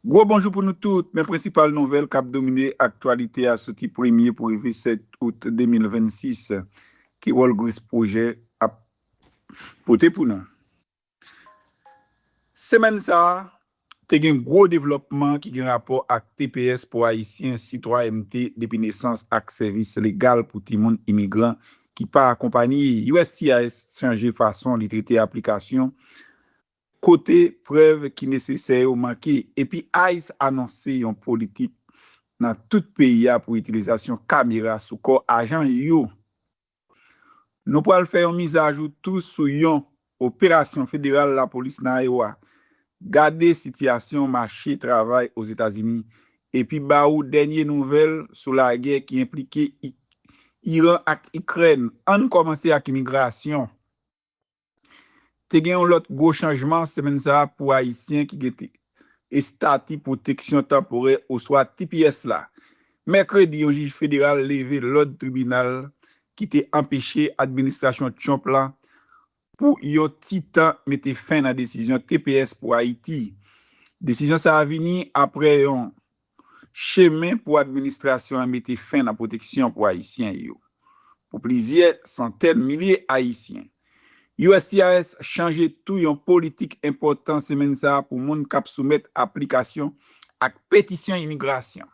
Gwo bonjou pou nou tout, men prensipal nouvèl k ap domine aktyalite a soti premye pou rive 7 out 2026, ki wòl Gresp Pwojè ap pote pou nou? Semèn sa a, te gen gwo devlòpman ki gen rapò ak tps pou Ayisyen, sitwayènte depi nesans ak sèvis legal pou timoun imigran ki pa akonpanye. Uscis chanje fason li trete aplikasyon Kote prèv ki nesesè yo manke epi ice anonse yon politik nan tout peyi a pou itilizasyon kamera sou kò ajan yo. Nou pral fè yon mizajou tou sou yon operasyon federal lapolis nan Iowa. Gade sitiyasyon mache travay Ozetazini epi ba ou dènye nouvèl sou lagè ki enplike Iran ak Ikrèn. Ann kòmanse ak imigrasyon. Te gen yon lòt gwo chanjman semèn sa a pou Ayisyen ki gen Estati Pwoteksyon Tanporè oswa tps la. Mèkredi, yon jij federal leve lòd tribinal ki te anpeche administrasyon Trump la pou yon ti tan mete fen nan desizyon tps pou Ayiti. Desizyon sa a vini apre yon chemen pou administrasyon an mete fen nan pwoteksyon pou Ayisyen yo pou plizyè santèn milye Ayisyen. Uscis chanje tou yon politik enpòtan semenn sa a pou moun k ap soumèt aplikasyon ak petisyon imigrasyon.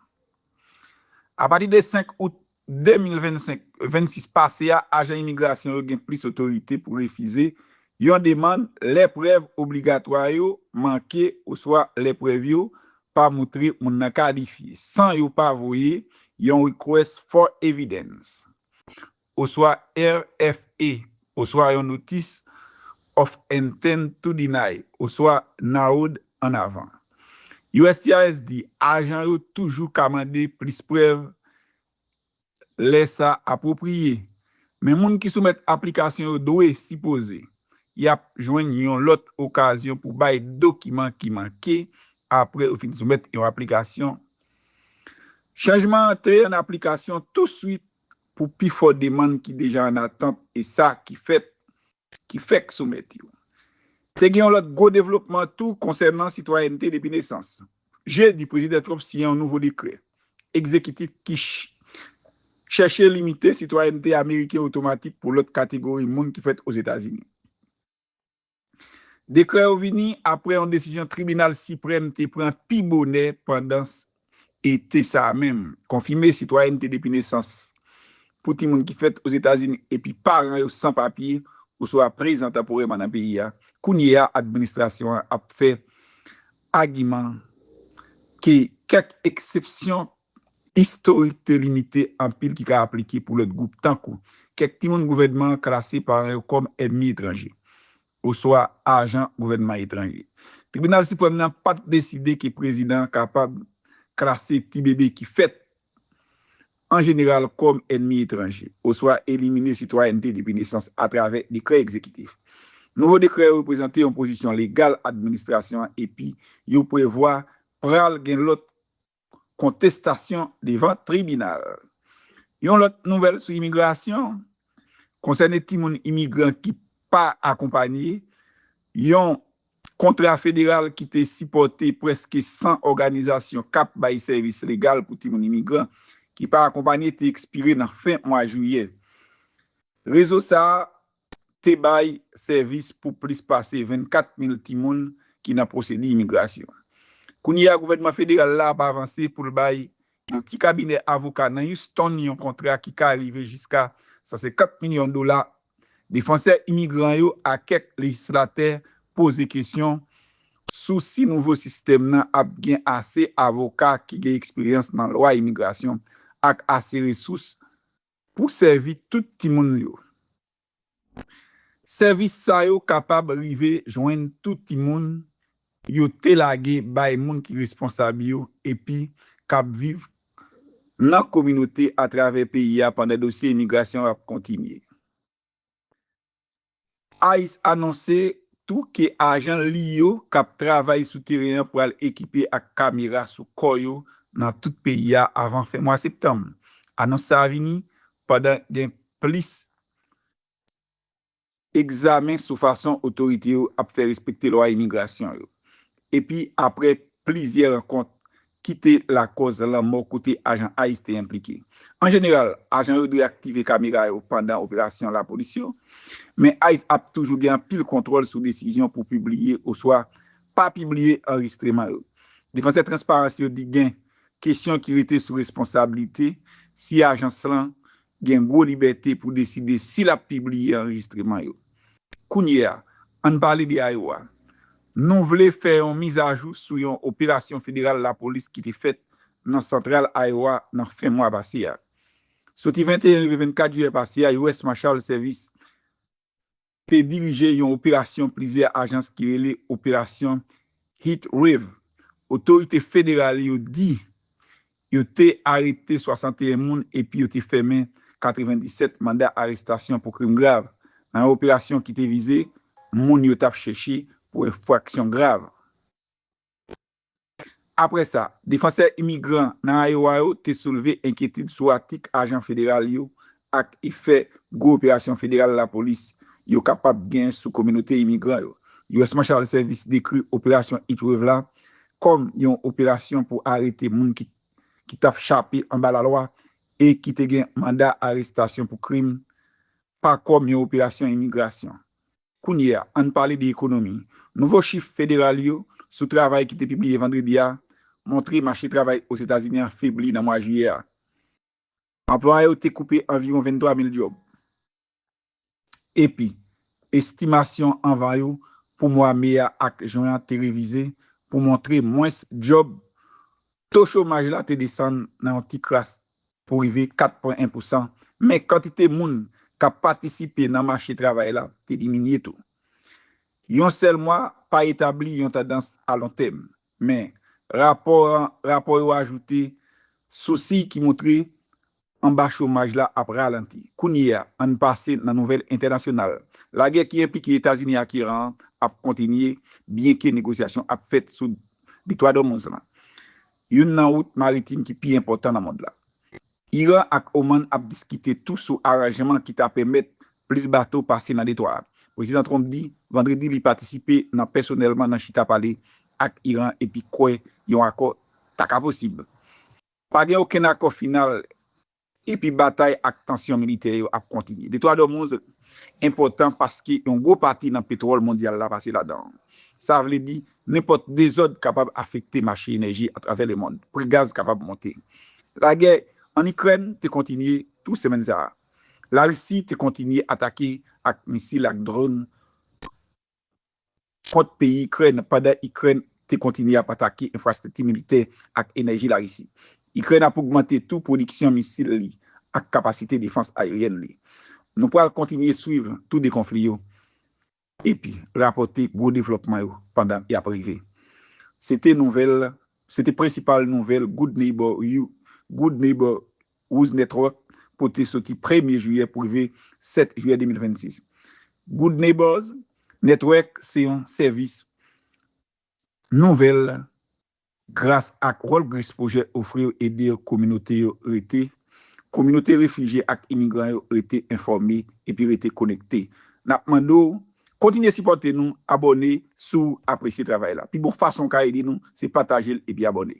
Apati de 5 out 2025, 26 pase a, ajan imigrasyon yo gen plis otorite pou refize yon demann lè prèv obligatwa yo manke oswa lè prèv yo pa moutre moun nan kalifye, san yo pa voye yon Request for Evidence, oswa RFE, Oswa yon notis of intent to deny oswa narrowed an avan. Uscis di ajan yo toujou ka mande plis prèv lè sa apwopriye, men moun ki soumèt aplikasyon yo dwe sipoze y ap jwenn yon lòt okazyon pou bay dokiman ki manke apre yo fin soumèt yon aplikasyon. Chanjman antre an aplikasyon touswit pou pi fò demann ki deja an atant e sa ki fèt ki fèk soumèt yo. Te gen yon lòt gwo devlopman tou konsènan sitwayènte depi nesans. Jedi, Prezidan Trump siyen yon nouvo dekrè egzekitif ki chèche limite sitwayènte ameriken otomatik pou lòt kategori moun ki fèt Ozetazini. Dekrè yo vini apre yon desizyon tribinal siprèm te pran pi bonè pandan ete sa a menm, konfime sitwayènte depi nesans pou timoun ki fèt Ozetazini epi paran yo san papye oswa prezan tanporèman nan peyi a. Kounye a, administrasyon an ap fè agiman ke kèk eksepsyon Istorik te limite anpil ki ka aplike pou lòt gwoup tankou, kèk timoun gouvènman an klase paran yo kòm ènmi etranje, oswa ajan gouvènman etranje. Tribinal Siprèm nan pa t deside ke prezidan an kapab klase ti bebe ki fèt an jeneral kòm ènmi etranje, oswa elimine sitwayènte depi nesans atravè dekrè egzekitif. Nouvo dekrè yo reprezante yon pozisyon legal administrasyon an epi yo prevwa pral gen lòt kontestasyon devan tribinal. Yon lòt nouvèl sou imigrasyon, konsène timoun imigran ki pa akonpanye, yon kontra federal ki te sipòte prèske 100 òganizasyon k ap bay sèvis legal pou timoun imigran ki pa akonpanye te ekspire nan fen mwa jiyè. Rezo sa a te bay sèvis pou plis pase 24 mil timoun ki nan pwosedi imigrasyon. Kounye a gouvènman federal la ap avanse pou l bay yon ti kabinè avoka nan Houston yon kontra ki ka rive jiska 150 milyon dola. Defansè imigran yo a kèk lejislatè poze kesyon sou si nouvo sistèm nan ap gen ase avoka ki gen eksperyans nan lwa imigrasyon ak ase resous Pou sèvi tout timoun yo. Sèvis sa yo kapab rive jwenn tout timoun yo te lage bay moun ki responsab yo epi k ap viv nan kominote atravè peyi a pandan dosye imigrasyon ap kontinye. Ice anonse tou ke ajan li yo k ap travay sou teren an pral ekipe ak kamera sou kò yo nan tout peyi a avan fen mwa septanm. Anons sa a vini pandan gen plis egzamen sou fason otorite yo ap fè respekte lwa imigrasyon yo epi apre plizyè rankont ki te lakòz lanmò kote ajan ice te enplike. An jeneral, ajan yo dwe aktive kamera yo pandan operasyon lapolis yo, men ice ap toujou gen anpil kontwòl sou desizyon pou pibliye oswa pa pibliye anrejistreman yo. Defansè transparans yo di gen kesyon ki rete sou responsablite si ajans lan gen gwo libète pou deside si l ap pibliye anrejistreman yo. Kounye a, ann pale de Iowa. Nou vle fè yon mizajou sou yon operasyon federal lapolis ki te fèt nan Santral Iowa nan fen mwa pase a. Soti 21 rive 24 jiyè pase a, US. Marshal Service, te dirije yon operasyon plizyè ajans ki rele Operasyon Heat Wave. Otorite federal yo di yo te arete 61 moun epi yo te fèmen 97 manda arestasyon pou krim grav, nan yon operasyon ki te vize moun yo t ap chèche pou enfraksyon grav. Apre sa, defansè imigran nan Iowa yo te soulve enkyetid sou atik ajan federal yo ak efè gwo operasyon federal lapolis yo kapab gen sou kominote imigran yo. US Marshal Service dekri Operasyon Heatwave la kòm yon operasyon pou arete moun ki ki t ap chape anba lalwa e ki te gen manda arestasyon pou krim, pa kòm yon operasyon imigrasyon. Kounye a, ann pale de ekonomi. Nouvo chif federal yo sou travay ki te pibliye vandredi a montre mache travay Ozetazini an febli nan mwa jiyè a. Anplwa yo te koupe anviwon 23 mil djòb, epi estimasyon anvan yo pou mwa me a ak jen an te revize pou montre mwens djòb. To chomaj la te desann nan yon ti kras pou rive 4 pwen 1 pousan, men kantite moun k ap patisipe nan mache travay la te diminye tou. Yon sèl mwa pa etabli yon tandans alontèm, men rapò an rapò yo ajoute sou siy ki montre anba chomaj la ap ralanti. Kounye a, ann pase nan nouvèl entènasyonal. Lagè ki enplike Etazini ak Iran an ap kontinye byenke negosyasyon ap fèt sou Detwa d'Ormuz lan. Youn nan wout maritim ki pi enpòtan nan mond la. Iran ak Oman ap diskite tou sou aranjman ki ta pèmèt plis bato pase nan detwa a. Prezidan Trump di Vandredi li patisipe nan pèsonèlman nan chita pale ak Iran epi kwè yon akò ta ka posib. Pa gen okenn akò final epi batay ak tansyon militè yo ap kontinye. Detwa d'Ormuz enpòtan paske yon gwo pati nan petwòl mondyal la pase ladan an. Sa vle di, nenpòt dezòd kapab afekte mache enèji atravè lemond. Pri gaz kapab monte. Lagè ann Ikrèn te kontinye tou semèn sa a. Larisi te kontinye atake ak misil ak dron tou. kont peyi Ikrèn pandan Ikrèn te kontinye ap atake enfrastrikti militè ak enèji Larisi. Ikrèn ap ogmante tou pwodiksyon misil li ak kapasite defans ayeryèn li. Nou pral kontinye swiv tou 2 konfli yo epi rapòte gwo devlòpman yo pandan y ap rive, se te nouvèl se te prensipal nouvèl Good Neighbor U Good Neighbor Wooz Network pote soti premye jiyè pou rive 7 jiyè 2026. Good Neighbors Network se yon sèvis nouvèl gras ak World Grace Project ofri yo ede kominote yo rete Kominote refijye ak imigran yo rete enfòme epi rete konekte N ap mande w kontinye sipòte nou Abòne si w apresye travay la Pi bon fason w ka ede nou se pataje l epi abòne.